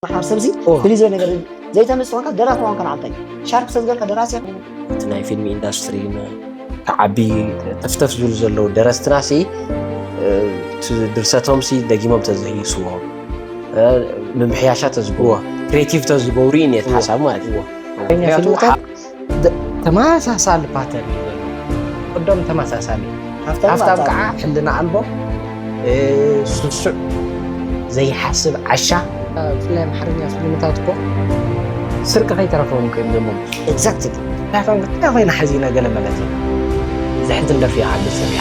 ንሓር ሰብዚ ፍልይ ዝበለ ነገር ዘይተምስ ኮንካ ደራሲ ዋንካ ንዓልታይ ሻርክ ሰብ ገርካ ደራሲ እቲ ናይ ፊልሚ ኢንዳስትሪ ክዓቢ ተፍተፍ ዝብሉ ዘለዉ ደረስትና ሲ ድርሰቶም ሲ ደጊሞም ተዘይስዎ ምምሕያሻ ተዝግዎ ክሬቲቭ ተዝገብሩ እዩ ኔት ሓሳብ ማለት እዩ ተመሳሳሊ ፓተር እዩ ዘሎ ቅዶም ተመሳሳሊ ሃፍታም ከዓ ሕልና ኣልቦ ስሱዕ ዘይሓስብ ዓሻ ብፍላይ ኣምሓርኛ ፊልምታት እኮ ስርቂ ከይተረፈዎም ኮይኑ ደሞ ኤግዛክት ዳፋም ግዳ ኮይና ሓዚና ገለ ማለት እዩ ዘሕዝን ደርፊ ይዓሉ ፅርያ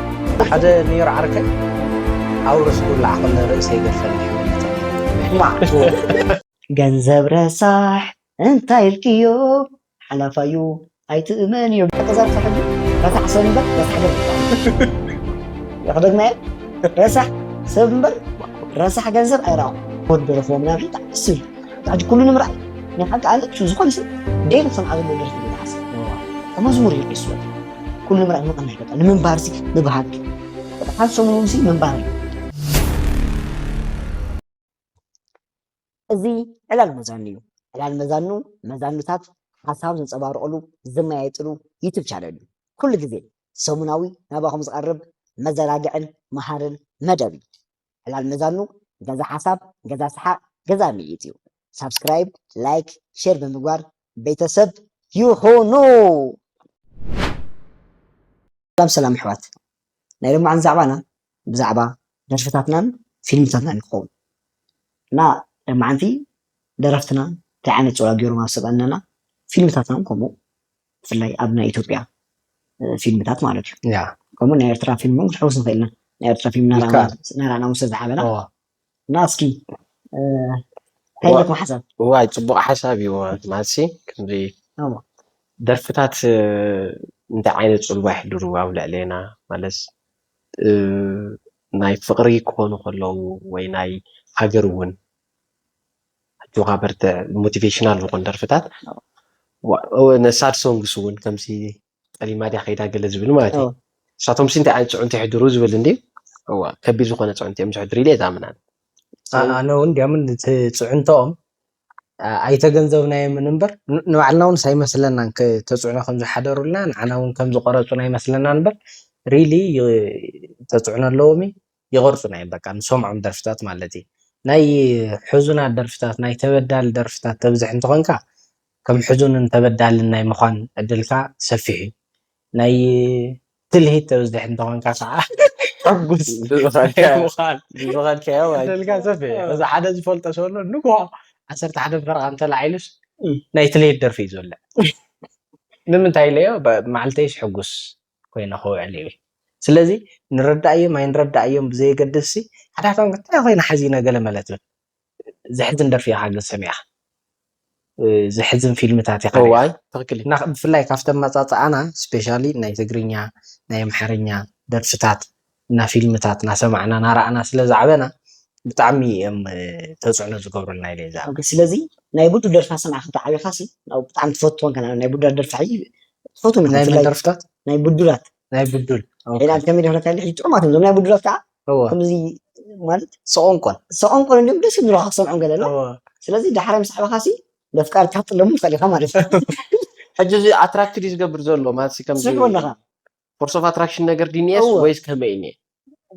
ሓደ ኔር ዓርከይ ኣውርስ ኩላ ዓቕለ ርእሰይ ገድፈኒ ሕመልተኒ ገንዘብ ረሳሕ እንታይ ኢልክዮ ሓላፋዩ ኣይትእመንዮ ገንዘብ ሕጂ ረሳሕ ሰብ እምበር ረሳሕ ገንዘብ ክደግመየ ረሳሕ ሰብ እምበር ረሳሕ ገንዘብ ኣይረኣኹ ወዲ ረኽቦ ምናምን ብጣዕሚ ደስ ዝብል ሕጂ ኩሉ ንምርኣይ ናይ ሓቂ ኣነ ዝኾነ ሰብ ደይሊ ክሰምዓ ዘለዎ ደርፊ ዝሓስብ መዝሙር እዩ ሒስወ ኩሉ ምራይ ምቕናይ በቃ ንምንባር ሲ ምብሃግ በቃ ካብ ሰሙን ሲ ምንባር እዩ እዚ ዕላል መዛኑ እዩ ዕላል መዛኑ መዛኑታት ሓሳብ ዘንፀባርቕሉ ዝመያየጥሉ ዩቱብ ቻነል እዩ ኩሉ ግዜ ሰሙናዊ ናባኹም ዝቐርብ መዘናግዕን መሃርን መደብ እዩ ዕላል መዛኑ ገዛ ሓሳብ ገዛ ስሓቅ ገዛ ምይይጥ እዩ ሳብስክራይብ ላይክ ሼር ብምግባር ቤተሰብ ይኹኑ። ሰላም ሰላም ኣሕዋት ናይ ሎማዓንቲ ዛዕባና ብዛዕባ ደርፍታትናን ፊልምታትናን ይኸውን እና ሎማዓንቲ ደረፍትና እንታይ ዓይነት ፅልዋ ገይሮም ኣብ ሰብእነና ፊልምታትናን ከምኡ ብፍላይ ኣብ ናይ ኢትዮጵያ ፊልምታት ማለት እዩ ከምኡ ናይ ኤርትራ ፊልም እውን ክሕውስ ንኽእል ኢና ናይ ኤርትራ ፊልም ናራእና ውሰ ዝሓበላ እና እስኪ ታይለኩም ሓሳብ ዋይ ፅቡቅ ሓሳብ እዩ ማሲ ከምዚ ደርፍታት እንታይ ዓይነት ፅልዋ ይሕድሩ ኣብ ልዕሌና ማለት ናይ ፍቅሪ ክኾኑ ከለዉ ወይ ናይ ሃገር እውን ኣጆኻ በርትዕ ሞቲቬሽናል ዝኾን ደርፍታት ሳድ ሶንግስ እውን ከምሲ ጠሊማ ድያ ከይዳ ገለ ዝብል ማለት እዩ ንሳቶምሲ እንታይ ዓይነት ፅዕንቶ ይሕድሩ ዝብል እንዲ እዋ ከቢድ ዝኾነ ፅዕንቶ እዮም ዝሕድሩ ኢለ እየ ዝኣምናን ኣነ እውን ዲያምን ፅዕንቶኦም ኣይተገንዘብናዮምን እምበር ንባዕልና እውን ኣይመስለናን ተፅዕኖ ከም ዝሓደሩልና ንዓና እውን ከም ዝቆረፁና ኣይመስለናን እምበር ሪሊ ተፅዕኖ ኣለዎም እዩ ይቅርጹና እዮም በቃ ንሰምዖም ደርፍታት ማለት እዪ ናይ ሕዙናት ደርፍታት ናይ ተበዳሊ ደርፍታት ተብዝሕ እንተኮንካ ከም ሕዙንን ተበዳልን ናይ ምኳን ዕድልካ ሰፊሕ እዩ ናይ ትልሂት ተብዝሕ እንተኮንካ ከዓ ሕጉስ ናይ ምኳን ዕድልካ ሰፊሕ እዩ እዚ ሓደ ዝፈልጦ ሰብ ኣሎ ንግሆ ዓሰርተ ሓደ ፈረቃ እንተላዒሉስ ናይ ትልሂት ደርፊ እዩ ዝውልዕ ንምንታይ ኢለዮ መዓልተይስ ሕጉስ ኮይኑ ክውዕል ይብል ስለዚ ንረዳኣዮም ኣይንረዳኣዮም ብዘየገድስሲ ሓዳቶም እንታይ ኮይና ሓዚና ገለ መለ ትብል ዘሕዝን ደርፊ ኢካ ግን ሰሚዕካ ዘሕዝን ፊልምታት ኢካ ሪኢካ እዋይ ትክክል እዩ እና ብፍላይ ካብቲ ኣመጻጽኣና ስፔሻሊ ናይ ትግርኛ ናይ ኣምሓርኛ ደርፍታት እና ፊልምታት ናሰማዕና ናራኣና ስለ ዝዓበና ብጣዕሚ እዮም ተፅዕኖ ዝገብሩልና ኢለ ይዛረብ። ኦኬ ስለዚ ናይ ቡዱ ደርፊ ናሰማዕካ እንተ ዓቢካ ሲ ናብ ብጣዕሚ ትፈትወን ከኣ ናይ ቡዳ ደርፊ ሕጂ ትፈትወን ኢካ ናይ መን ብፍላይ ደርፍታት ናይ ቡዱላት ናይ ቡዱል ኦኬ ዒላል ከመይ ደርፍታት ኢካ ሕጂ ጥዑማት እዮም እዞም ናይ ቡዱላት ከኣ እወ ከምዚ ማለት ሰቆንቆን ሰቆንቆን እንድዮም ደስ እዮም ዝብሉካ ክትሰምዖም ገለ ኣሎ እወ ስለዚ ዳሕራይ ምስ ዓበካ ሲ ነፍቃር ክትጥለሙ ትክእል ኢካ ማለት እዩ ሕጂ እዚ ኣትራክት ድዩ ዝገብር ዘሎ ማለት ሲ ከምዚ ትስሕቦ ኣለካ ፎርስ ኦፍ ኣትራክሽን ነገር ድንየስ እወ ወይስ ከመይ እየ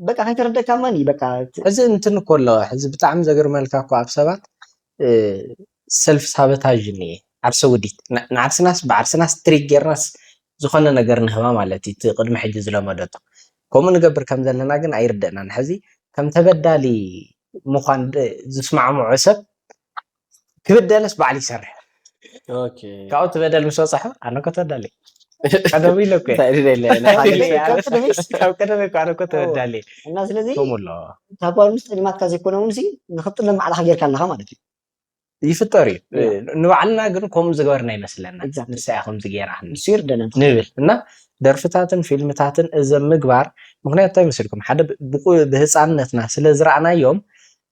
በቃ ከይተረደካ ማን እዩ በቃ ት- ሕዚ እንትን እኮ ኣለዋ ሕዚ ብጣዕሚ ዘገርመልካ እኮ ኣብ ሰባት ሰልፍ ሳበታዥ እኒኤ ዓርሰ ውዲት ን- ንዓርስናስ ብዓርስናስ ትሪክ ጌርናስ ዝኾነ ነገር ንህባ ማለት እዩ እቲ ቅድሚ ሕጂ ዝለመደቶ ከምኡ ንገብር ከም ዘለና ግን ኣይርደእናን ሕዚ ከም ተበዳሊ ምዃን ድ- ዝስማዕምዖ ሰብ ክብደለስ ባዕሉ ይሰርሕ ካብኡ እቲ በደል ምስ በፅሖ ኣነ እኮ ተዳሊ ቀደሙ ኢለ እኮ ካብ ቀደመ እኮ ኣነ እኮ ተዳሊ እና ስለዚ ከምሎ እታ ጓል ምስ ጠሊማትካ ዘይኮነ እውን ንክትጥለም ባዕልካ ጌርካ ኣለካ ማለት እዩ ይፍጠር እዩ ንባዕልና ግን ከምኡ ዝገበርና ይመስለና ንሳ እያ ከምዚ ገይራ ንሱ ይርደና ንብል እና ደርፍታትን ፊልምታትን እዚ ምግባር ምክንያቱ እንታይ መስልኩም ሓደ ብህፃንነትና ስለ ዝረኣናዮም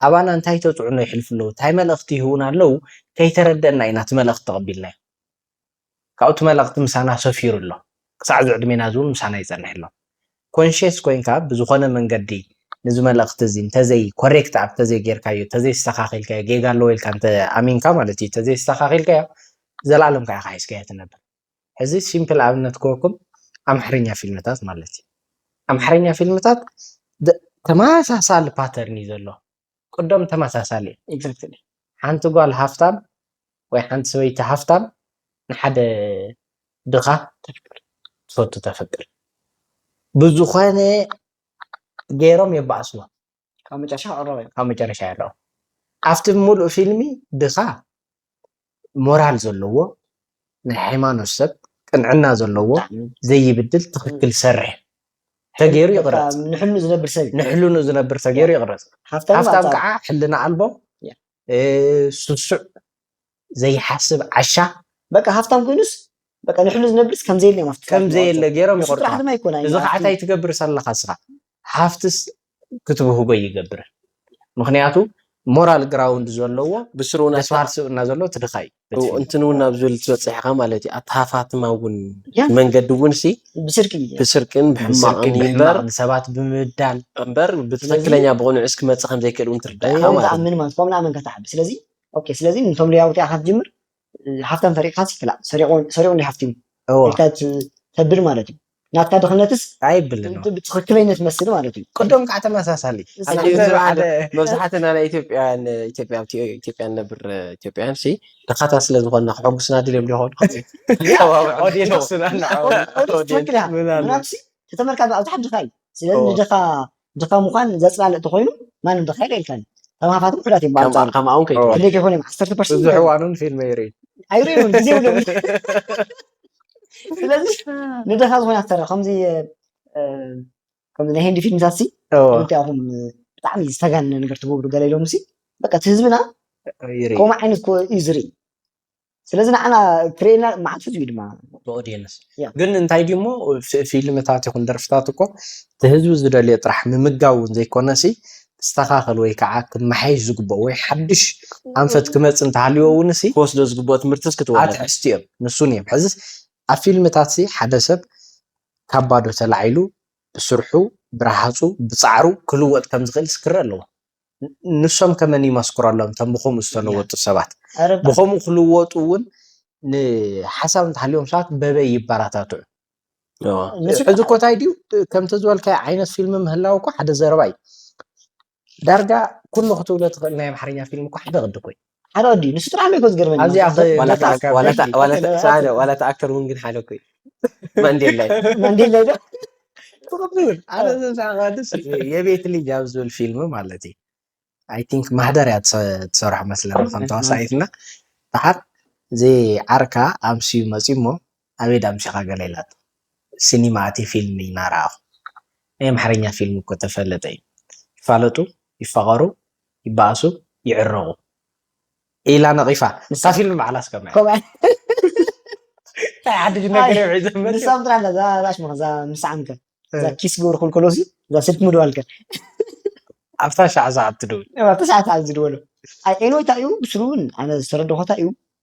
ኣባና እንታይ ተጽዕኖ የሕልፉ ኣለዉ፣ እንታይ መልእኽቲ ይህቡና ኣለዉ ከይተረደእና ኢና እቲ መልእኽቲ ተቐቢልናዮ። ካብኡ እቲ መልእኽቲ ምሳና ሰፊሩ ኣሎ። ክሳዕ እዚ ዕድሜና እዚ እውን ምሳና ይጸንሕ ኣሎ። ኮንሽየስ ኮይንካ ብዝኾነ መንገዲ ነዚ መልእኽቲ እዚ እንተዘይ ኮሬክት ኣፕ እንተዘይ ጌርካዮ እንተዘይ ኣስተኻኺልካዮ ጌጋ ኣለዎ ኢልካ እንተ ኣሚንካ ማለት እዩ እንተዘይ ኣስተኻኺልካዮ ዘልኣለም ከኣ ኢኻ ሒዝካዮ ትነብር። ሕዚ ሲምፕል ኣብነት ክበኩም ኣምሓርኛ ፊልምታት ማለት እዩ ኣምሓርኛ ፊልምታት ተመሳሳሊ ፓተርን እዩ ዘሎ ቅዶም ተመሳሳሊ ኤግዛክትሊ ሓንቲ ጓል ሃፍታም ወይ ሓንቲ ሰበይቲ ሃፍታም ንሓደ ድኻ ተፍቅር ትፈቱ ተፍቅር ብዝኾነ ገይሮም የባእስዋ ካብ መጨረሻ ክቕረብ እዩ። ካብ መጨረሻ የለዎ ኣብቲ ሙሉእ ፊልሚ ድኻ ሞራል ዘለዎ ናይ ሃይማኖት ሰብ ቅንዕና ዘለዎ ዘይብድል ትኽክል ዝሰርሕ ተገይሩ ይቕረፅ ንሕሉ ዝነብር ሰብ ንሕልኑ ዝነብር ተገይሩ ይቕረፅ ሃፍታም ከዓ ሕልና ኣልቦ ስሱዕ ዘይሓስብ ዓሻ በቃ ሃፍታም ኮይኑስ በቃ ንሕሉ ዝነብርስ ከም ዘየለ እዮም ኣብቲ ከም ጥራሕ ዘየለ ዝመርጹ። ገይሮም ንሱ ይቆርጽዋ ጥራሕ ድማ ኣይኮነ እዚ ከዓ እንታይ ትገብር ዘለካ እስኻ ሃፍትስ ክትብህጎ ኣይገብርን ምክንያቱ ሞራል ግራውንድ ዘለዎ ብስሩ እውን ደስ በሃሊ ስብእና ዘለዎ እቲ ድኻ እዩ በቲ ፊልም። እንትን እውን ናብ ዝብል ትበፅሕ ኢኻ ማለት እዩ ኣቲ ሃፋትማ እውን ያ መንገዲ እውን ሲ ብስርቂ እዩ ብስርቅን ብስርቂ ብሕማቕን እዩ እምበር ብሕማቕ ንሰባት ብምብዳል እምበር ብትክክለኛ ብቕኑዕስ ክመፅእ ከም ዘይክእል እውን ትርዳእ ኢኻ ከምኡ ማለት እዩ ንኣምን ማለት ከምኡ ንኣመንካ ትዓቢ ስለዚ ኦኬ ስለዚ ንቶም ሊያውቲ ኣኻ ትጅምር ሃፍታም ሰሪቕካ ይክላእ ሰሪቑ እንዲ ሃፍቲሙ ኢልካ ተብል ማለት እዩ ናትካ ድኽነትስ ኣይብልን ብትኽክለይነት መስል ማለት እዩ ቅድም ከዓ ተመሳሳሊ መብዛሕትና ናይ ኢትዮጵያን ኢትዮጵያ ኢትዮጵያ ነብር ኢትዮጵያን ሲ ድኻታ ስለ ዝኾንና ክሕጉስና ድልዮም ሊኾኑ ትኽክል እያ ምናልሲ ተተመርካ ኣብቲ ሓድኻ እዩ ስለዚ ንድኻ ድኻ ምዃን ዘጽላልእ እንተኾይኑ ማንም ድኻ የልካን እዩ። ከም ሃፋትም ውሑዳት እዮም ከም ብኣንጻሩ ከምኣ እውን ከይትብል ክንደይ ከይኾኑ እዮም ዓሰርተ ፐርሰንት ብዙሕ ይኸውን እዋኑን ፊልመይ ይርኢ ኣይርእን እውን ግዜ እውን የብሉን ስለዚ ንድኻ ዝኾነ ኣክተር ከምዚ እ፣ እ፣ ከምዚ ናይ ህንዲ ፊልምታት ሲ እዎ እንታይ ኢኹም እ፣ ብጣዕሚ ዝተጋነነ ነገር ትገብሩ ገለ ኢሎም ሲ በቃ እቲ ህዝብና ይርኢ ከምኡ ዓይነት ኮ እዩ ዝርኢ ስለዚ ንዓና ክርእየና መዓልቲ እዩ ድማ ብኦድየንስ ያ። ግን እንታይ ድዩ እሞ ፊ- ፊልምታት ይኹን ደርፍታት እኮ እቲ ህዝቢ ዝደልዮ ጥራሕ ምምጋብ እውን ዘይኮነሲ ክስተኻኸል ወይ ከዓ ክመሓየሽ ዝግብኦ ወይ ሓድሽ ኣንፈት ክመፅእ እንተሃልዮ እውንሲ ክወስዶ ዝግብኦ ትምህርትስ ክትወለድ ኣትሕዝቲ እዮም ንሱን እዮም ሕዝስ ኣብ ፊልምታት ሲ ሓደ ሰብ ካብ ባዶ ተላዒሉ ብስርሑ ብረሃፁ ብፃዕሩ ክልወጥ ከም ዝኽእልስ ክረእ ኣለዎ ንሶም ከ መን ይመስክረሎም እቶም ብከምኡ ዝተለወጡ ሰባት ብከምኡ ክልወጡ እውን ንሓሳብ እንተሃልዮም ሰባት በበይ ይበራታትዑ ሕዚ እኮ እንታይ ድዩ ከምቲ ዝበልካዮ ዓይነት ፊልሚ ምህላው እኮ ሓደ ዘረባ እዩ ዳርጋ ኩሉ ክትብሎ ትኽእል ናይ ኣምሓርኛ ፊልም እኮ ሓደ ቅዲ ኮይኑ ሓደ ወዲ ንሱ ጥራሕ እኮ ዝገርመኒ ኣብዚኣ ኸ ዋላ መጻ ተኣ- ካብ ዋላ ደርጊ ተኣ- ዋላ ተኣ- ቀተለ ሰዓደ፣ ዋላ ተኣክተር እውን ግን ሓደ እኮ እዩ ማንዴላ እዩ ማንዴላ ዶ ጽቡቅ ይብል ኣነ ዘምሳዕ ከድስ የቤት ልጅ ኣብ ዝብል ፊልም ማለት እዩ ኣይ ቲንክ ማህደር እያ ትሰ- ትሰርሖ መስለኒ ከም ተዋሳኢትና ድሓር እዚ ዓርካ ኣምስዩ መፅዩ እሞ ኣበይ ዳኣ ኣምጺኻ ገለ ኢላቶ ሲኒማ ኣትየ ፊልሚ እና ረኣኹ ናይ ኣምሓርኛ ፊልሚ እኮ ተፈለጠ እዩ ይፋለጡ ይፋቐሩ ይባኣሱ ይዕረቑ ኢላ ነቒፋ ንሳ ፊልሚ ባዕላስ ከማይ ናይ ዓዲ ነገር እዮም ሒዘም መጽዮም ንሳም ጥራሕ እዛ እዛ ሽማ እዛ ምስዓም ከ እዛ ኪስ ግብሩ ክልከሎ ሲ እዛ ስልኪ ምድዋል ከ ኣብታ ሻዕ ሰዓት ትድውል ኣብታ ሻዕ ሰዓት ዝድወሎ ኣይ ኤንወይ እንታይ እዩ ብስሩ እውን ኣነ ዝተረዳኹ እንታይ እዩ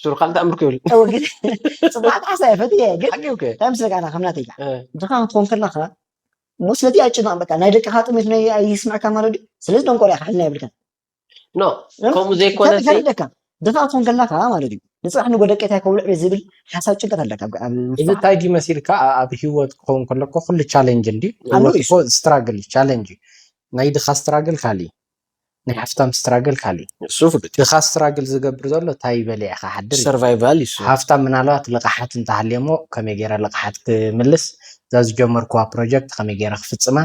ሽሮ ካልእ ተኣምር ክብል እወ ግን ጽቡቃት ዓሳ እየ ፈትየ ግን ሓቂ እኮ እንታይ መስለካ ኣና ከም ናተይ እ፣ ድኻ ክትኾን ከለኻ እሞ ስለዚ ኣይጭናቕ በቃ ናይ ደቅኻ ጥሜት ናይ ኣይስምዐካ ማለት ድዩ ስለዚ ደንቆሮ ኢኻ ሕልና የብልካን ኖ ከምኡ ዘይኮነ ሲ ፈርደካ ድኻ ክትኾን ከለኻ ማለት እዩ ንጽባሕ ንጎ ደቂ እንታይ ከብልዕ ቤት ዝብል ሓሳብ ጭንቀት ኣለካ ኣብ- ኣብ እዚ ውሽጥኻ። እንታይ ድዩ መሲልካ ኣ- ኣብ ሂወት ክኸውን ከለኮ ኩሉ ቻሌንጅ እንዲ ኣሎ ሂወት እዩ። እኮ ስትራግል ቻሌንጅ እዩ ናይ ድኻ ስትራግል ካልእ እዩ ናይ ሃፍታም ስትራግል ካሊእ እዩ ንሱ ፍሉጥ እዩ ድኻ ስትራግል ዝገብር ዘሎ ታይ በሊዕ ክሓድር እዩ ሰርቫይቫል እዩ እሱ ሃፍታም ምናልባት ልቓሓት እንተሃልዮሞ ከመይ ገይረ ልቓሓት ክምልስ እዛ ዝጀመርክዋ ፕሮጀክት ከመይ ገይረ ክፍፅማ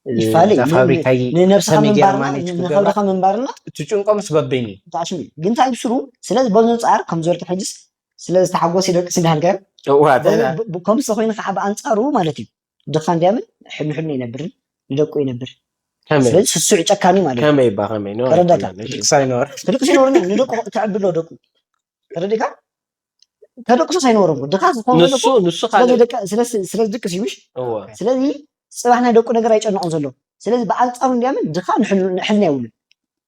ይፋለ እዩ እዛ ፋብሪካ ን- ንነብስኻ ከመይ ገይረ ምንባርና ማኔጅ ክገብራ ንኸብርኻ ምንባርና እትጭንቆምስ በበይኑ እዩ ተዓሽሙ እዩ ግን ታይ ብስሩ ስለዚ በዚ ኣንፃር ከም ዝበልኪ ሕጅስ ስለ ዝተሓጎስ ይደቅስ እንዳልካ እዋ ተ- ብ- ብ- ከምዚ ኮይኑ ከዓ ብኣንፃሩ ማለት እዩ ድኻ እንዲያምን ሕድሕዱ ይነብርን ንደቁ ይነብር ከመይ ስለዚ ስሱዕ ጨካኒ ማለት እዩ ከመይ እባ ከመይ ኖ ተረዳእካ? ኣይኮነን፣ እሺ። ልክስ ኣይኖር ደቂ ሲኖርኒ ንደቁ ተዕብሎ ደቁ ተረዲካ ተደቅሶ ሳይኖር እኮ ድኻ ዝኾነ ንሱ ደቁ ንሱ ስለዚ ካልእ ደቂ- ስለዚ- ስለዚ ደቂ ሲዩሽ እወ ስለዚ ፅባሕ ናይ ደቁ ነገር ኣይጨንቆም ዘሎ ስለዚ ብኣንፃሩ እንዲያምን ድኻ ንሕል- ንሕልና የብሉን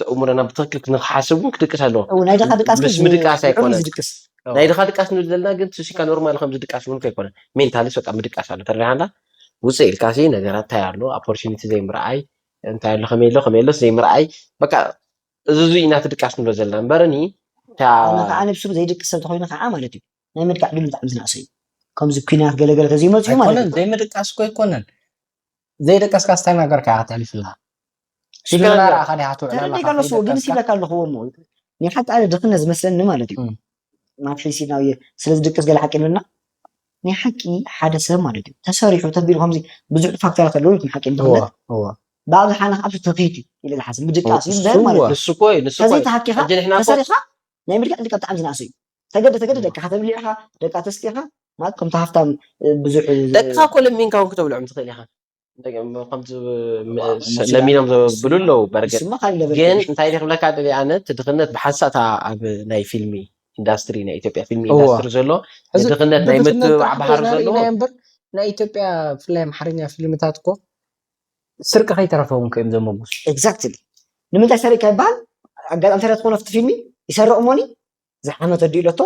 ተእምሮና ብትክክል ክንሓስብ እውን ክድቅስ ኣለዎ እው ናይ ድኻ ድቃስ ምስ ምድቃስ ልዑል እዩ ኣይኮነን ዝድቅስ እው ናይ ድኻ ድቃስ ንብል ዘለና ግን ሱሲካ ኖርማል ከምዚ ድቃስ እውን ከይኮነን ሜንታሊስ በቃ ምድቃስ ኣሎ ተረዲኻና ውፅእ ኢልካሲ ነገራት እንታይ ኣሎ ኦፖርቹኒቲ ዘይምርኣይ እንታይ ኣሎ ከመይ ኣሎ ከመይ ኣሎስ ዘይምርኣይ በቃ እዚ እዚ ኢና እቲ ድቃስ ንብሎ ዘለና እምበር እኒ እታ ኣነ ከዓ ነብሱ ዘይድቅስ ሰብ ተኮይኑ ከዓ ማለት እዩ ናይ ምድቃዕ ዕድሉ ብጣዕሚ ዝነእሰ እዩ ከምዚ ኩናት ገለገለ ተዘይመፅኡ ማለት እዩ ኣይኮነን ዘይምድቃስ እኮ ኣይኮነን ዘይደቀስካስ ታይ ነገርካ ኢኻ ተሕልፍልና ሽግርና ርኣኻ ዲኻ ትውዕል ኣለኻ ተረዲእካለሱ ወገንስ ከይደቀስካ ይብለካ ኣለኹ እሞ ናይ ሓቂ ኣነ ድኽነት ዝመስለኒ ማለት እዩ እም፣ ናብ ፊልሲ ናብ የ- ስለ ዝድቅስ ገለ ሓቂ ይብለና ናይ ሓቂ ሓደ ሰብ ማለት እዩ ተሰሪሑ ተቢሉ ከምዚ ብዙሕ ፋክተራት ኣለዉ ኢልኩም ሓቂ እወ ድኽነት እወ ብኣብዝሓ ኣነ ካብቲ ትርኺት እዩ ኢለ ዝሓስብ ምድቃስ እዩ እምበር ንሱ ማለት እወ እዩ ንሱ እኮ እዩ ንሱ እኮ እዩ ተዘይተሃኪኻ ሕጂ ንሕና እኮ ተሰሪሕኻ ናይ ምድቃስ ዕድልካ ብጣዕሚ ዝነኣሰ እዩ ተገደ ተገደ ደቅኻ ተብሊዕኻ ደቃ ተስጢኻ ማለት ከምቲ ሃፍታም ብዙሕ ደቅኻ እኮ ለሚንካ እውን ክተብልዖም ትኽእል ኢኻ ከምቲ ለሚኖም ዘብሉ ኣለዉ በርግጥ ንሱማ ካልእ ለበል ግን እንታይ ኢለ ክብለካ ደሊ ኣነ እቲ ድኽነት ብሓንሳእታ ኣብ ናይ ፊልሚ ኢንዳስትሪ ናይ ኢትዮጵያ ፊልሚ እዋ ኢንዳስትሪ ዘሎ ሕዚ ንድኽነት ናይ ብድኽነት ምትብባዕ ጥራሕ እኮ ባህሪ ኢና ዘለዎ ርኢናዮ እምበር ናይ ኢትዮጵያ ብፍላይ ኣምሓርኛ ፊልምታት እኮ ስርቂ ከይተረፈውን እኮ እዮም ዘመጉሱ ኤግዛክትሊ ንምንታይ ሰሪቅካ ይበሃል ኣጋጣሚ እንታይ ትኾን ኣብቲ ፊልሚ ይሰርቕ እሞኒ ዝሓመት ኣዲኡ ለቶ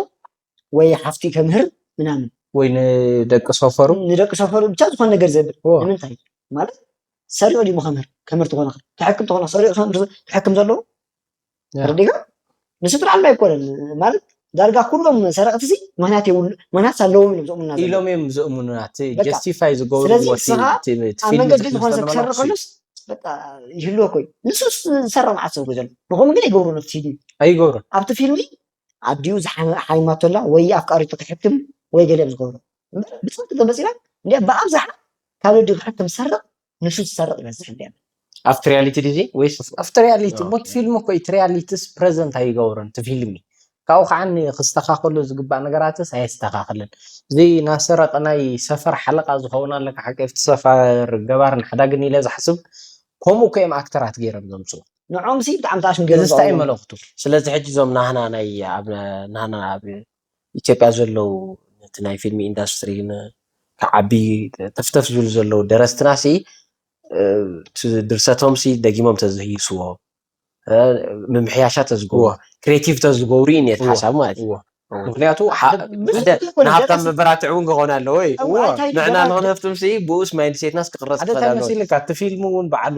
ወይ ሓፍቲ ከምህር ምናምን ወይ ንደቂ ሰፈሩ ንደቂ ሰፈሩ ብቻ ዝኾነ ነገር ዘብል ንምንታይ ማለት ሰሪዑ ድሞ ከምህር ከምህር ትኾነ ክሕክም ትኾነ ሰሪዑ ክሕክም ዘለዎ ረዲጋ ንስድራ ዓላ ኣይኮነን ማለት ዳርጋ ኩሎም ሰረቕቲ ሲ ምክንያት የብሉ ምክንያት ኣለዎም ኢሎም ዝእሙና ኢሎም እዮም ዝእሙኑና እቲ ጀስቲፋይ ዝገብርዎ ስለዚ ንስኻ ኣብ መንገዲ ዝኾነ ሰብ ክሰርቕ ከሎስ በቃ ይህልወኮ እዩ ንሱስ ዝሰራ መዓት ሰብ ዘሎ ንከምኡ ግን ኣይገብሩ ነብቲ ፊልሚ ኣይገብሩ ኣብቲ ፊልሚ ኣዲኡ ዝሓይማቶላ ወይ ኣፍቃሪቱ ክሕክም ወይ ገለ ኣብ ዝገብሮ እምበር ብፅብቅ ተመፂና እንዲያ ብኣብዝሓ ካብ ወዲ ክሕክም ዝሰርቅ ንሱ ዝሰርቅ ይበዝሕ እንዲያ ኣብቲ ሪያሊቲ ድዚ ወይስ ኣብቲ ሪያሊቲ ሞት ፊልሚ እኮ እቲ ሪያሊቲስ ፕረዘንት ኣይገብሩን እቲ ፊልሚ ካብኡ ከኣ ክስተካከሉ ዝግባእ ነገራትስ ኣየስተካክልን እዚ ናሰረቀ ናይ ሰፈር ሓለቃ ዝከውን ኣሎ ሓቂፍቲ ሰፈር ገባርን ሓዳግን ኢለ ዝሓስብ ኮምኡ እኮ እዮም ኣክተራት ገይሮም ዘምጽኡ ንዖም ሲ ብጣዕሚ ተኣሽም ገይሮም እዝስ ታይ እዩ መልእክቱ ስለዚ ሕጂ እዞም ናህና ናይ ኣብ ናህና ኣብ ኢትዮጵያ ዘለዉ ነቲ ናይ ፊልሚ ኢንዳስትሪ ክዓቢ ተፍተፍ ዝብሉ ዘለዉ ደረስትና ሲ እቲ ድርሰቶም ሲ ደጊሞም ተዝህይስዎ ምምሕያሻ ተዝገብሩ ክሬቲቭ ተዝገብሩ እዩ ኔት ሓሳብ ማለት እዩ ምክንያቱ ንሃብታም መበራትዒ እውን ክኾን ኣለዎ እዩ ንዕና ንክንህፍትም ሲ ብኡስ ማይንድ ሴትናስ ክቕረፅ ክኸእል ኣለዎ ሓደ እንታይ መሲልካ እቲ ፊልም እውን ባዕሉ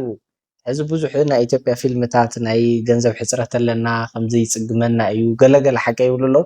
ሕዚ ብዙሕ ናይ ኢትዮጵያ ፊልምታት ናይ ገንዘብ ሕፅረት ኣለና ከምዚ ይፅግመና እዩ ገለ ገለ ሓቂ ይብሉ ኣለዉ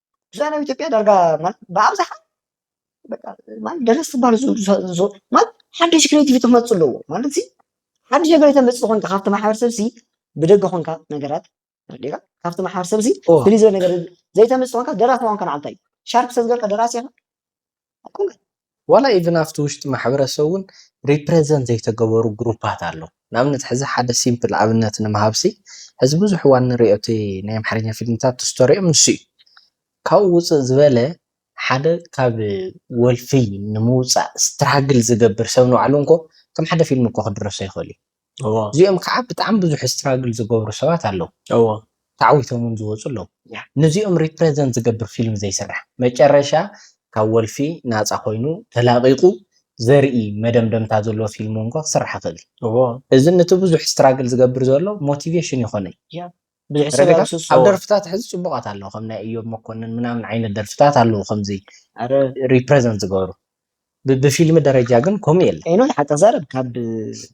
ብዛዕባ ኢትዮጵያ ዳርጋ ብኣብዝሓ ደረስቲ ዝበሃሉ ማለት ሓድሽ ክሬቲቪቲ ክመፁ ኣለዎ ማለት ሓድሽ ነገር የተምፅእ ኮንካ ካብቲ ማሕበረሰብ እዚ ብደገ ኮንካ ነገራት ዲኻ ካብቲ ማሕበረሰብ እዚ ፍልይ ዝበለ ነገር ዘይተምፅእ ኮንካ ደራሲ ምኳንካ ንዓልታ እዩ ሻርፕ ሰብ ገርካ ደራሲ ኢኻ ዋላ ኢቭን ኣብቲ ውሽጢ ማሕበረሰብ ውን ሪፕረዘንት ዘይተገበሩ ግሩፓት ኣለዉ ንኣብነት ሕዚ ሓደ ሲምፕል ኣብነት ንምሃብሲ ሕዚ ብዙሕ እዋን ንሪኦ እቲ ናይ ኣምሓርኛ ፊልምታት ስቶሪኦም ንሱ እዩ ካብኡ ውፅእ ዝበለ ሓደ ካብ ወልፊ ንምውፃእ ስትራግል ዝገብር ሰብ ንባዕሉ እንኮ ከም ሓደ ፊልም እኮ ክድረሶ ይክእል እዩ። እዚኦም ከዓ ብጣዕሚ ብዙሕ ስትራግል ዝገብሩ ሰባት ኣለዉ ተዓዊቶም ውን ዝወፁ ኣለዉ ነዚኦም ሪፕረዘንት ዝገብር ፊልም ዘይስራሕ መጨረሻ ካብ ወልፊ ናፃ ኮይኑ ተላቂቁ ዘርኢ መደምደምታ ዘለዎ ፊልም ውን ክስራሕ ይክእል እዩ እዚ ነቲ ብዙሕ ስትራግል ዝገብር ዘሎ ሞቲቬሽን ይኮኖ እዩ ብዙሕ ሰብ ረገታ ኣብስሶ ኣብ ደርፍታት ሕዚ ጽቡቃት ኣለዉ ከም ናይ እዮብ መኮንን ምናምን ዓይነት ደርፍታት ኣለዉ ከምዚ ኣረ ሪፕረዘንት ዝገብሩ ብ- ብፊልሚ ደረጃ ግን ከምኡ የለን ኤኖ ሓቂ ዛረብ ካብ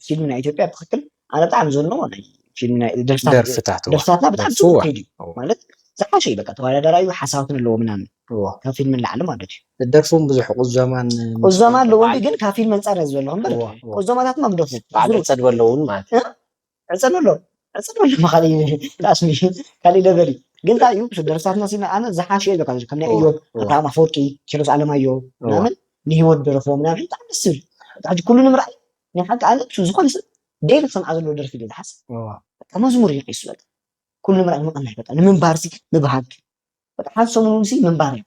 ፊልም ናይ ኢትዮጵያ ብትክክል ኣነ ብጣዕሚ ዝንኦ ናይ ፊልም ናይ ደርፍታት ደርፍታት እዋ ደርፍታትና ብጣዕሚ ደርፉ ጽቡቅ እዋ ከይዱ እዩ እዋ ማለት ዝሓሸ እዩ በቃ ተወዳዳራይ እዩ ሓሳባት ኣለዎ ምናምን እዋ ካብ ፊልም ንላዕሊ ማለት እዩ ደርፉን ብዙሕ ቁዘማን ምስ ቁዘማ ኮንካ ኣለዎ እንዲ በዓል ግን ካብ ፊልም ኣንጻር እየ ዝበለኹ እምበር እዋ እዋ ቁዘማታትና ብደርፉ በዓል ዝሩብ ዕጸድ በለውን ማለት እዩ ዕጸን ኣሎ ዕጸን ኣሎ ካሊእ ላስሚ ካሊእ ለቨል እዩ ግን እንታይ እዩ ምስ ደርፍታትና ሲና ኣነ ዝሓሸ እዩ በቃ ከም ናይ እዎ እዮብ እዎ ኣብርሃም ኣፈወርቂ ኪሮስ ኣለማዮ እዎ ምናምን ንሂወት ዝደረፍዎ ምናምን ብጣዕሚ ደስ ዝብል በቃ ሕጂ ኩሉ ንምርኣይ ናይ ሓቂ ኣነ ምስ ዝኾነ ሰብ ደይሊ ክሰምዓ ዘለዎ ደርፊ ድየ ዝሓስብ እዎ በቃ መዝሙር እዩ ቂሱ በቃ ኩሉ ንምርኣይ ምቕናይ በቃ ንምንባርሲ ምብሃግ በቃ ሓንቲ ሰሙን ሲ ምንባር እዩ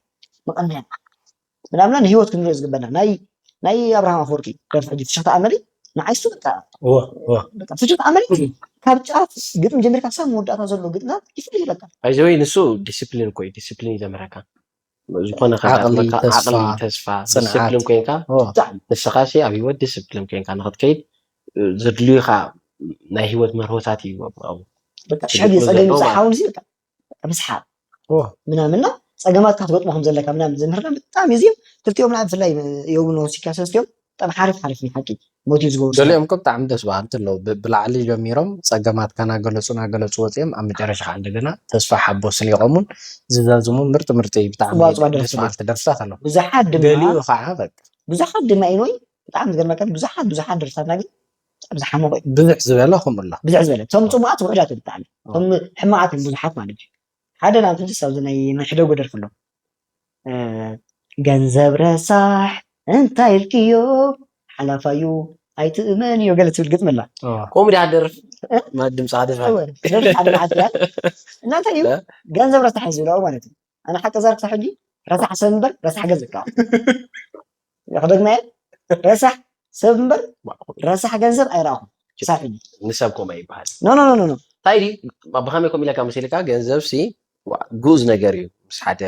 መቐነያ ምናምና ንህይወት ክንሪኦ ዝግበና ናይ ናይ ኣብርሃም ኣፈወርቂ ደርፊ ሕጂ ፍሽኽታ ኣመሊ ንዓይ እሱ በቃ በቃ ፍሽኽታ ኣመሊ ካብ ጫፍ ግጥሚ ጀሚርካ ክሳብ መወዳእታ ዘሎ ግጥና ይፍልይ በቃ ባይዘወይ ንሱ ዲስፕሊን እኮ እዩ ዲስፕሊን እዩ ዘምህረካ ዝኾነ ዓቕሊ፣ ከጋጥመካ ዓቕሊ ተስፋ፣ ተስፋ ጽንዓት። ዲስፕሊን ኮንካ ኦ፣ ብጣዕሚ ንስኻ ሲ ኣብ ህይወት ዲስፕሊን ኮንካ ንክትከይድ እ፣ ዘድልዩኻ ናይ ህይወት መርሆታት እዩ ኣብኡ። በቃ ሽሕ ግዜ ግጥሚ ጸገም ዘለዋ። ይብጻሕ ሓውን ሲ በቃ ምስሓብ ምናምን እና ፀገማት ካትገጥሞ ከምዘለካ ምናምን ዝምህርና ብጣዕሚ እዚም ክልቲኦም ናይ ብፍላይ ዮቡ ንወሲካ ሰስቲኦም ብጣዕሚ ሓሪፍ ሓሪፍ ናይ ሓቂ ሞት እዩ ዝገብሩ ገሊኦም እኮ ብጣዕሚ ደስ በሃልቲ ኣለዉ ብላዕሊ ጀሚሮም ፀገማት ካናገለፁ ናገለፁ ወፂኦም ኣብ መጨረሻ ከዓ እንደገና ተስፋ ሓቦ ስኒቆሙን ዝዛዝሙ ምርጢ ምርጢ ብጣዕሚ ደስ በሃልቲ ደርፍታት ኣለዉ ብዙሓት ድማ ገሊኡ ከዓ በቃ ብዙሓት ድማ ኢኖይ ብጣዕሚ ዝገርመካ ብዙሓት ብዙሓት ደርፍታትና ግን ኣብዚ ሓመቑ እዩ ብዝሕ ዝበለ ከምኡ ኣሎ ብዝሕ ዝበለ እቶም ፅቡቃት ውሕዳት እዮም ብጣዕሚ እቶም ሕማቃት እዮም ብዙሓት ማለት እዩ ሓደ ናብ ትንስ ኣብዚ ናይ መሕደጉ ደርፊ ኣሎ ገንዘብ ረሳሕ እንታይ ኢልክዮ ሓላፋዩ ኣይትእመንዮ ገለ ትብል ግጥሚ ኣላ ከምኡ ድያ ደርፊ ድምፂ ደርፊ ሓደ መዓት እናንተ እዩ ገንዘብ ረሳሕ ዝብላኡ ማለት እዩ ኣነ ሓቂ ዛር ክሳብ ሕጂ ረሳሕ ሰብ እምበር ረሳሕ ገንዘብ ይከኣል ክደግመየ ረሳሕ ሰብ እምበር ረሳሕ ገንዘብ ኣይረኣኹም ክሳብ ሕጂ ንሰብ ኮማ ይበሃል ኖ ኖ ኖ ኖ እንታይ ድዩ ብኸመይ ከምኡ ኢለካ መሲልካ ገንዘብ ሲ ግኡዝ ነገር እዩ ምስ ሓደ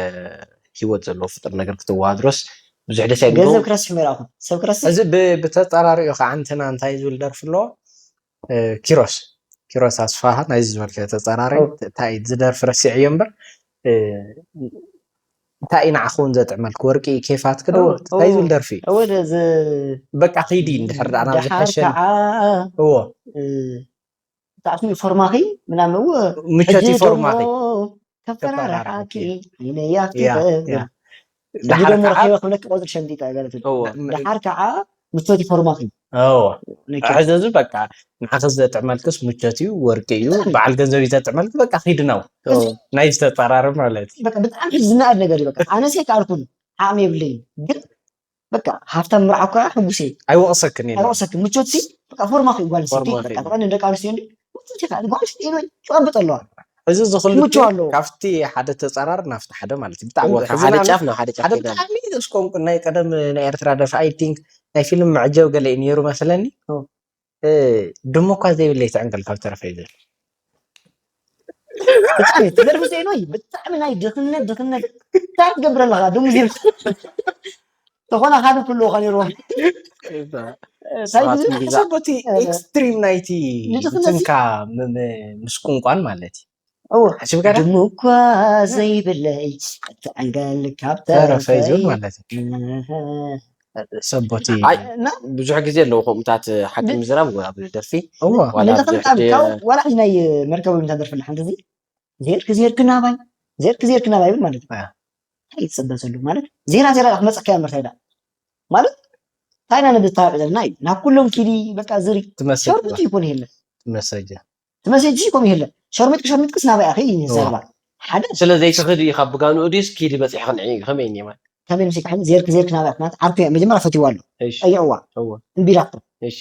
ሂወት ዘለዎ ፍጡር ነገር ክትወሃድሮስ ብዙሕ ደስ ገንዘብ ኣይብሎ ክረስሕ ይረኣኹም ሰብ ክረስሕ እዚ ብ- ብተፃራሪኡ ከዓ እንትና እንታይ ዝብል ደርፊ ኣለዎ ኪሮስ ኪሮስ ኣስፋሃ ናይዚ ዝበልካዮ ተጻራሪ እንታይ እዩ ዝደርፊ ረሲዐዮ እምበር እንታይ እዩ ንዓኹ እውን ዘጥዕመልክ ወርቂ እዩ ኬፋትክ ዶ እንታይ ዝብል ደርፊ በቃ ክይዲ እንድሕር ዳኣ ናብ ዝሐሸ እዎ ብጣዕሚ ፎርማኺ ምናምን እዎ ምቸት ፎርማኺ ከፈራርሓኪ ኢነያ ክተብል ሕጂ ደሞ ረኺበ ክብለኪ ቆጽሪ ሸምጢጠ በለትኒ ደሓር ከኣ ምቾት ፎርማት ሕዚ እዚ በቃ ንዓኺ ዘጥዕመልክስ ምቾት እዩ ወርቂ እዩ በዓል ገንዘብ እዩ ዘጥዕመልኪ በቃ ኪድ ነው ናይ ዝተፃራሪ ማለት ብጣዕሚ ዝናኣድ ነገር እዩ ኣነሰ ከኣልኩን ዓቕሚ የብለይን ግን በቃ ሃብታም ምርዓው ከዓ ሕጉስ እየ ኣይወቕሰክን ኣይወቕሰክን ምቾት ሲ በቃ ፎርማኺ ጓል ስቲ በቃ ተቐኒ ደቂ ኣንስትዮ እንዲ ምቾት ኢኻ ጓል ስቲ ኢሉ ጨብጥ ኣለዋ ሕዚ እዚ ክልቲኡ ክምችው ኣለዎ። ካብቲ ሓደ ተጻራሪ ናብቲ ሓደ ማለት እዩ ብጣዕሚ ካብ ሓደ ዘሕዝን ኣሎ ጫፍ ናብ ሓደ ጫፍ ሓደ ከይዳ ብጣዕሚ ዘስቆንቁን ናይ ቀደም ናይ ኤርትራ ደርፊ ኣይ ቲንክ ናይ ፊልም መዐጀቢ ገለ እዩ ነይሩ መስለኒ ኦ። እ፣ ድሙ እኳ ዘይብለይ ትዕንቅል ካብ ተረፈ እዩ ዝብል ብጣዕሚ እቲ ደርፊ ዜኖይ ብጣዕሚ ናይ ድኽነት ድኽነት እንታይ ትገብር ኣለኻ ድሙ ዜና ዝኾነ ሓደ ክህልዎ ከኔርዎ ሳይድ ሰቦቲ ኤክስትሪም ናይቲ ንትንካ ምስ ቁንቋን ማለት እዩ ሓሲብካ ድሙ እኳ ዘይብለይ ትዕንገል ካብ ተረፈይ ማለት እዩ ሰቦቲ ብዙሕ ግዜ ኣለዎ ከምኡታት ሓቂ ምዝራብ ኣብ ደርፊ ዋላ ሕዚ ናይ መርከብ ምታ ደርፊ ሓንቲ እዚ ዜርክ ዜርክ ናባይ ዜርክ ዜርክ ናባይ ይብል ማለት እዩ እንታይ ትፅበ ዘሎ ማለት ዜራ ዜራ ዳ ክመፀካ እያ ምርታይ ዳ ማለት እንታይ ኢና ንድታረቅ ዘለና እዩ ናብ ኩሎም ኪዲ በቃ ዝሪ ትመሰጅ ሸርሙጢ ይኮን ይህለ ትመሰጀ ትመሰጂ ኮም ይህለ ሸርሙጥ ሸርሙጥ ክስ ናበይ ኣኺ እዩ ዘረባ ሓደ ስለ ዘይትኽዲ ኢኻ ብጋንኡ ድዩስ ኪዲ በፂሒ ክንዒ እዩ ከመይ እኒ ማለት ከመይ ምስ ይካሕል ዜርክ ዜርክ ናበይ ኣኽናት ዓርኩ እያ መጀመሪያ ፈትዋ ኣሎ እሺ ጠይዕዋ እወ እምቢ ኢላቶ እሺ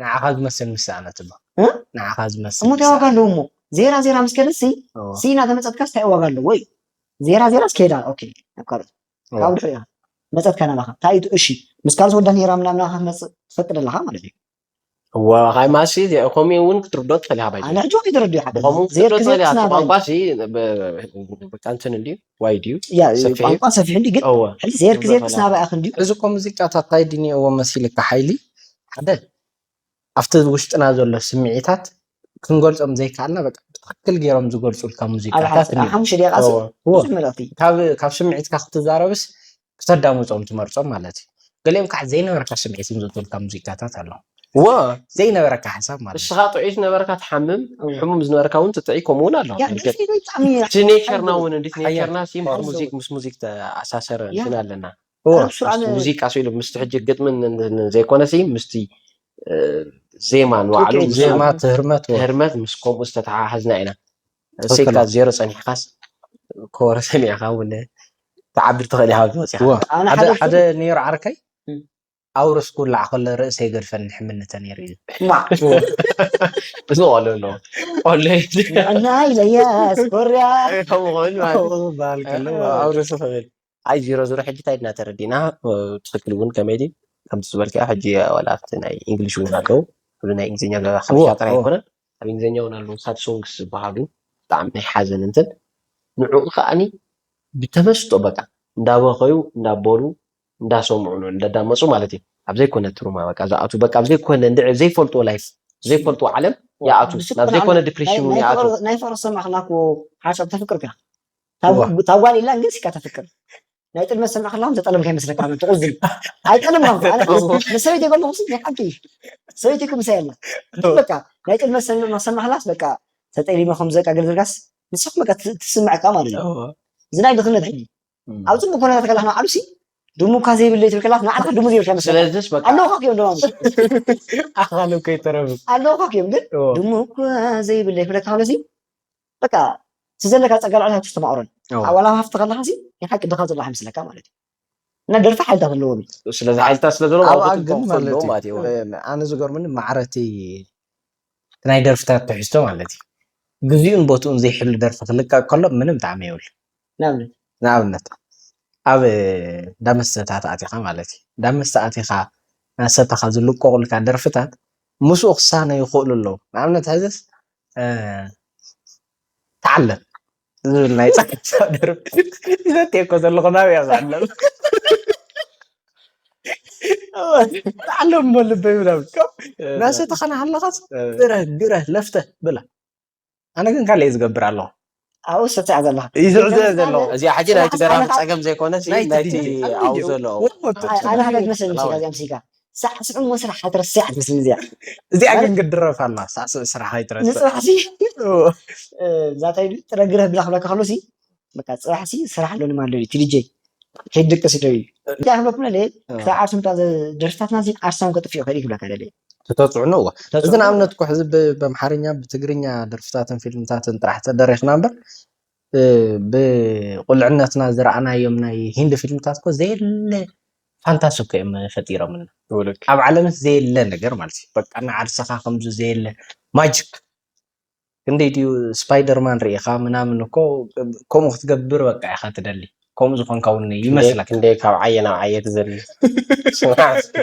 ንዓኻ ዝመስል ምስ ሰኣነት እሞ ንዓኻ ዝመስል እሞ እንታይ ዋጋ ኣለዎ እሞ ዜራ ዜራ ምስ ከደሲ ሲ እናተመፀትካስ እንታይ ዋጋ ኣለዎ እዩ ዜራ ዜራ ስከሄዳ ኦኬ ናብ ካልኦት ካብ ድሕሪ ኢኻ መፀትካ ናባኻ እንታይ እዩ እሺ ምስ ካልኦት ወዳ ነይራ ምናምን ናባኻ ክመፅእ ትፈቅድ ኣለኻ ማለት እዩ እወ ካይ ማሲ ከምኡ እውን ክትርዶ ትኽእል ኢኻ ባይ ኣነ ሕጂ ወዲ ተረዲኡ ሓደ ከምኡ ክትርዶ ትኽእል ኢኻ እቲ ቋንቋ ሲ በቃ እንትን እንድዩ ዋይ ድዩ ሰፊሕ እዩ ቋንቋ ሰፊሕ እንድዩ ግን እወ ሕጂ ዜርክ ዜርክስ ናባይ ኣኽ እንድዩ እዚ እኮ ሙዚቃታት ታይ ድንየዎ መሲልካ ሓይሊ ሓደ ኣብቲ ውሽጥና ዘሎ ስምዒታት ክንገልጾም ዘይከኣልና በቃ ብትክክል ገይሮም ዝገልጹልካ ሙዚቃታት ካብ ስምዒትካ ክትዛረብስ ክተዳምጾም ትመርጾም ማለት እዩ ገሊኦም ከዓ ዘይነበረካ ስምዒት ዝምዘቱልካ ሙዚቃታት ኣሎ ዎ ዘይነበረካ ሓሳብ ማለት ንስኻ ጥዑይ ዝነበረካ ትሓምም ሕሙም ዝነበረካ እውን ትጥዒ ከምኡ እውን ኣሎ እቲ ኔቸርና እውን እንዴት ኔቸርና ሲም ሙዚክ ምስ ሙዚክ ተኣሳሰረ እንትን ኣለና እወ ኣረ ብስርዓት ምስቲ ን- ሙዚቃ ስኢሉ ምስቲ ሕጂ ግጥምን ን- ን- ን- ዘይኮነሲ ምስቲ እ፣ ዜማ ንባዕሉ ትክክል ምስኡ ዜማ እቲ ህርመት እወ ህርመት ምስ ከምኡ ዝተተሓሓዝና ኢና ትክክል እሰይካ እወ ዜሮ ፀኒሕካስ ኮረ ሰሚዕካ እውን ትዓብር ትኽእል ኢኻ ካብዚ ወፂኻ እወ ኣነ ሓደ ሓደ ሓደ ነይሩ ዓርከይ እም፣ ኣውርስ ኩላዕ ከሎ ርእሰይ ገድፈኒ ሕምልተ ነይሩ ኢሉ። ሕማቕ እዚ ቆሎ ኣለዎ ቆሎ ንዕናይ ዘያስ ኮርያ ከምኡ ክብል ማለት ከምኡ ክበሃል ከሎ ማለት እዩ። ኣውርስ ክብል ኣይ ዚሮ ዚሮ ሕጂ ታይ ድና ተረዲእና ብትክክል እውን ከመይ ድዩ ከምቲ ዝበልካዮ ሕጂ ዋላ ኣብቲ ናይ ኢንግሊሽ እውን ኣለዉ ኩሉ ናይ እንግሊዝኛ ብ እዋ ሓበሻ ጥራይ እዋ ኣይኮነን ኣብ እንግሊዝኛ እውን ኣለዉ ሳብ ሶንግስ ዝበሃሉ ብጣዕሚ ናይ ሓዘን እንትን ንዕኡ ከኣኒ ብተመስጦ በቃ እንዳበኸዩ እንዳበሉ እንዳሰምዑ ን እንዳዳመጹ ማለት እዩ ኣብ ዘይኮነ ትሩማ በቃ ዝኣትዉ በቃ ኣብ ዘይኮነ እንድዒ ዘይፈልጥዎ ላይፍ ዘይፈልጥዎ ዓለም ይኣትዉ ዋእ ናብ ዘይኮነ ድፕሪሽን ዉን ይኣትዉ። ናይ ፍቅሪ ዝሰማዕክላ እኮ ሓንሳብ ተፍቅር እካ እታ ጓል ኢላ ግን እስካ ተፍቅር ናይ ጥልመት ዝሰምዕ ከላኩም ዝተጠለምካ ይመስለካ ን ትቁዝን ኣይጠለማ እኮ ኣነ ምስ ሰበይተይ ከለኩ ሲ ናይ ሓቂ ሰበይተይ እኮ ምሳይ ኣላ ግን በቃ ናይ ጥልመት ዝሰምዕ እናሰማዕክላስ በቃ ተጠሊመ ከምዚ በቃ ገለ ዝብልካስ ንሳ በቃ ትስመዐካ ማለት እዩ እዚ ናይ ድክነት ሕጂ ኣብ ጽቡቅ ኩነታት ከለካ ንባዕሉ ሲ ድሙካ ዘይብለይ ትብል ከለካ ንባዕልካ ድሙ ዘይብልካ ይመስለካ ስለዚስ በቃ ኣለውካ ክዮም ድማ ኣኻሉ ከይተረፉ ኣለውካ ክዮም ግን እዎ ድሙኳ ዘይብለይ ክብለካ ከሎ ሲ በቃ እቲ ዘለካ ጸጋ ልዕሊ ሃብቲ ተማቅሮን እዎ ኣብ ዋላ ኣብ ሃፍቲ ከለካ ሲ ናይ ሓቂ ድኻ ዘሎ ኣይመስለካ ማለት እዩ እና ደርፊ ሓይልታት ኣለዎም እዩ ስለዚ ሓይልታት ስለ ዘለዎ ኣብኣ ኣብኡ ግን ትንኮፍ ማለት ኣለዎ እዩ ማለት እዩ እዎ እ- ኣነ ዝገርመኒ ማዕረቲ ናይ ደርፍታት ትሕዝቶ ማለት እዩ ግዚኡን ቦትኡን ዘይሕሉ ደርፊ ክልቀቅ ከሎ ምንም ጣዕሚ የብሉ ንኣብነት ንኣብነት ኣብ እንዳ መስተታት ኣቲኻ ማለት እዩ እንዳ መስተ ኣቲኻ እናሰተኻ ዝልቀቑልካ ደርፍታት ምስኡ ክሳነ ይኽእሉ ኣለዉ ንኣብነት ሕዝስ ተዓለም ዝብል ናይ ፃዕዳ ደርፊ ዘትየኮ ዘለኹ ናበይ እየ ክዕለም ተዓለም እሞ ልበይ ምናምን እናሰተኻ ናሃለኻስ ግረህ ግረህ ለፍተህ ብላ ኣነ ግን ካልእ ዝገብር ኣለኹ ኣብኡ ዝስዕስዕ ዘለኹ ይስዕስዕ ዘለኹ እዚኣ ሕጂ ናይቲ ገራሚ ጸገም ዘይኮነ ናይቲ ኣብኡ ዘሎ ኣነ ሓደ ትመስለኒ ምስላ እዚኣ ምስልካ ሳዕስዑ እሞ ስራሕ ኣይትረስዕ ትመስለኒ እዚኣ እዚኣ ግን ግድረፍ ኣላ ሳዕስዑ ስራሕ ኣይትረስዕ ንጽባሕሲ እዛ ታይ ጥረ ግረፍ ብላ ክብለካ ከሎሲ በቃ ጽባሕ ሲ ስራሕ ኣሎ ንማን ኣሎ ቲዲጀይ ከይድ ድቅስ ዶ እዩ እንታይ ክብለኩም ለለ ክሳብ ዓርሶም ደርፍታትና ሲ ዓርሶም ከጥፍኡ ይኽእል እዩ ክብለካ ለለ ተተጽዕኖ እዋ እዚ ንኣብነት እኮ ሕዚ በምሓርኛ ብትግርኛ ደርፍታትን ፊልምታትን ጥራሕ ተደሪኽና እምበር ብቁልዕነትና ዝረኣናዮም ናይ ሂንዲ ፊልምታት እኮ ዘየለ ፋንታሲ እኮ እዮም ፈጢሮምና ኣብ ዓለምስ ዘየለ ነገር ማለት እዩ በቃ ንዓርስኻ ከምዚ ዘየለ ማጅክ ክንደይ ድዩ ስፓይደርማን ሪኢኻ ምናምን እኮ ከምኡ ክትገብር በቃ ኢኻ ትደሊ ከምኡ ዝኾንካ ውን ክንደይ ይመስለካ ክንደይ ካብ ዓየ ናብ ዓየ ትዘሊ ስማዕ እስኪ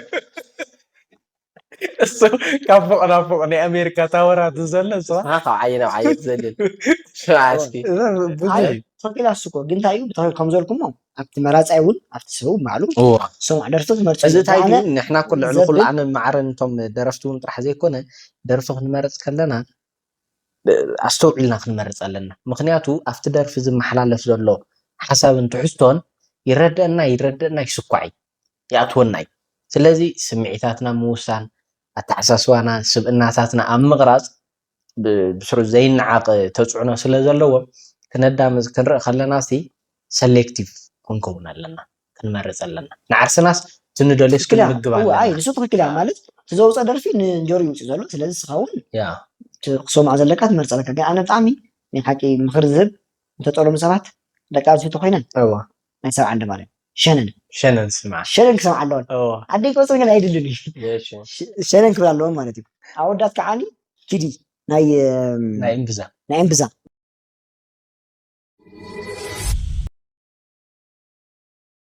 እሱ ካብ ፎቕ ናብ ፎቕ ናይ ኣሜሪካ ታወራት ዝዘለ ንስኻ ንስኻ ካብ ዓየ ናብ ዓየ ትዘልል ስማዕ እስኪ እዛ ብዙሕ ዓየ እዩ። ፎቅ ኢላ እሱ እኮ ግን እንታይ እዩ ብታ- ከም ዘልኩሞ ኣብቲ መራፃይ እውን ኣብቲ ሰብ እውን ባዕሉ እዎ ዝሰምዖ ደርፊ ክመርፅ እዚ ኣለዎ እንታይ ኣነ ድዩ ንሕና እኮ ልዕሊ ኩሉ ዘብል ዓንን ማዕረን እቶም ደረፍቲ እውን ጥራሕ ዘይኮነ ደርፊ ክንመርፅ ከለና ብ ኣስተውዒልና ክንመርፅ ኣለና ምኽንያቱ ኣብቲ ደርፊ ዝመሓላለፍ ዘሎ ሓሳብን ትሕዝቶን ይረደኣና ኣይረደኣና ይስኳዕ እዩ ይኣትወና እዩ ስለዚ ስምዒታትና ኣብ ምውሳን ኣተሓሳስባና ስብእናታትና ኣብ ምቕራፅ ብስሩ ዘይነዓቅ ተፅዕኖ ስለ ዘለዎ ክነዳምፅ ክንርኢ ከለና ሲ ሰሌክቲቭ ክንከውን ኣለና ክንመርፅ ኣለና ንዓርስናስ እቲ ንደልዮስ ክንምግብ ኣለና። እወ ኣይ ንሱ ትክክል እያ ማለት እቲ ዘውፀ ደርፊ ንጆሪ ይውፅእ ዘሎ ስለዚ ንስካ እውን ያ እቲ ክትሰምዖ ዘለካ ትመርፅ ኣለካ ግን ኣነ ብጣዕሚ ናይ ሓቂ ምክሪ ዝህብ ዝተጠለሙ ሰባት ደቂ ኣንስትዮ ተኮይነን እወ ናይ ሰብ ዓንዲ ማለት ሸነን ሸነን ስምዓ ሸነን ክሰምዓ ኣለወን ኣደይ ቆፅሪ ግን ኣይድልን እዩ ሸነን ክብል ኣለወን ማለት እዩ ኣወዳት ከዓኒ ኪዲ ናይ ናይ እምብዛ ናይ እምብዛ